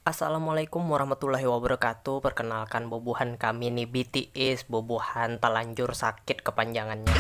Assalamualaikum warahmatullahi wabarakatuh perkenalkan bubuhan kami ni bts bubuhan talanjur sakit kepanjangannya.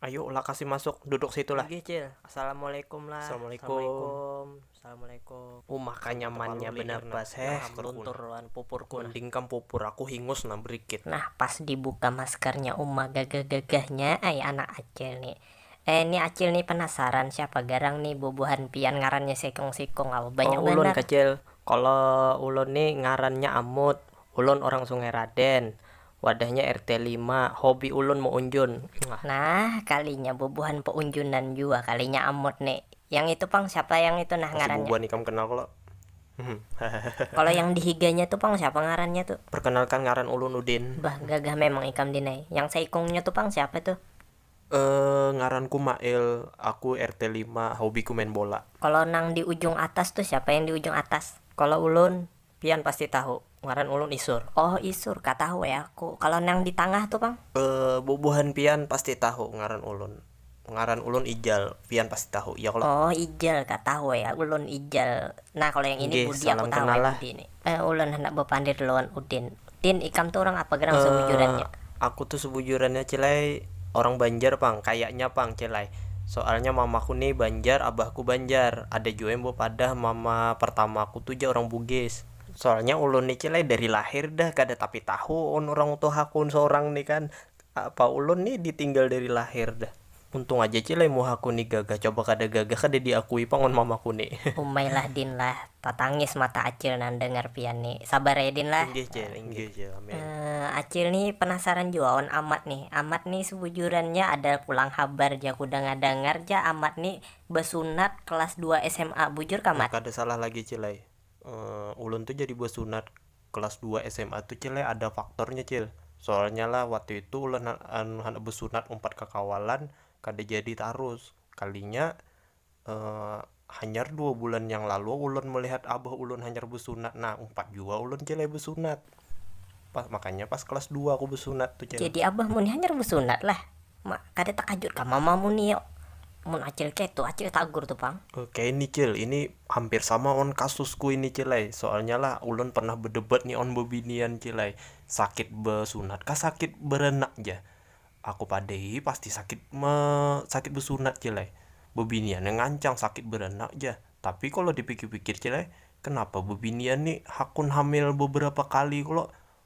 Ayu lah kasi masuk duduk situ lah. Inggih cil, assalamualaikum lah. Assalamualaikum. Assalamualaikum. Uma ka nyaman nya benar pas heh keluntur wan pupur ku nah. Mending kam pupur aku hingus nah berikit. Nah pas di buka masker nya uma gagah gagah nya ai anak acil ni. Eh ni acil ni penasaran siapa garang ni bubuhan pian ngaran nya sekong sikong au banyak banar. Oh ulun kecil kalo ulun ni ngaran nya amut ulun orang sungai raden Wadahnya RT lima, hobi ulun meunjun. Nah, kalinya bubuhan peunjunan jua kalinya amut ni. Yang itu pang, siapa yang itu nah ngarannya? Pasti bubuhan ikam kenal kalo. Kalo yang di higanya tu pang siapa ngarannya tu? Perkenalkan ngaran ulun Udin. Bah, gagah memang ikam Din ai. Yang seikungnya tu pang siapa tu? Eh, ngaranku Mail, aku RT lima, hobiku main bola. Kalo nang di ujung atas tu siapa yang di ujung atas? Kalo ulun, Pian pasti tahu, ngaran ulun Isur. Oh Isur, ka tahu ai aku. Kalo nang di tangah tu pang? Eh, bubuhan pian pasti tahu, ngaran ulun. Ngaran ulun Ijal, pian pasti tahu, iya kalo? Oh Ijal, ka tahu ai ulun Ijal. Nah kalo yang ini Budi aku tahu ai Budi ni. Eh, ulun handak bapandir lawan Udin. Din, ikam tu urang apa gerang sebujurannya? Eh, aku tu sebujurannya Cilai orang Banjar pang, kayaknya pang Cilai. Soalnya mamaku ni Banjar, abahku Banjar. Ada jua yang bepadah mama pertamaku tu ja orang Bugis. Soalnya ulun ni Cilai dari lahir dah kada tapi tahu un orang tuhaku seorang ni kan. Apa ulun ni ditinggal dari lahir dah. Untung aja cil ai muhaku ni gagah coba kada gagah kada diakui pang wan mamaku ni. Umai lah din lah, tatangis mata acil nandangar pian ni. Sabar ya din lah. Inggih cil inggih cil amin. Acil ni penasaran jua wan amat ni. Amat ni sebujurannya ada pulang habar ja ku danga dangar ja amat ni besunat kelas dua sma bujur kah mat? Kada salah lagi cil ai, ulun tu jadi besunat Kelas dua sma tu cil ada faktornya cil, soalnya lah waktu itu ulah handak besunat umpat kakawalan kada jadi tarus, kalinya hanyar dua bulan yang lalu ulun melihat abah ulun hanyar besunat nah umpat jua ulun cil besunat, makanya pas kelas dua aku besunat tu cil. Jadi abahmu ni hanyar besunat lah. Ma, kada takajut kah mama mu ni yo, mun acil ketu acil tagur tu pang. Oke ini cil, ini hampir sama wan kasusku ini cil ai, soalnya lah ulun pernah bedebat nih wan bebinian cil ai, sakit besunat kah sakit berenak jar, aku padahi pasti sakit me sakit besunat cil ai, bebinian nya ngancang sakit berenak jar, tapi kalo dipikir pikir cil ai, kenapa bebinian nih hakun hamil beberapa kali kalo,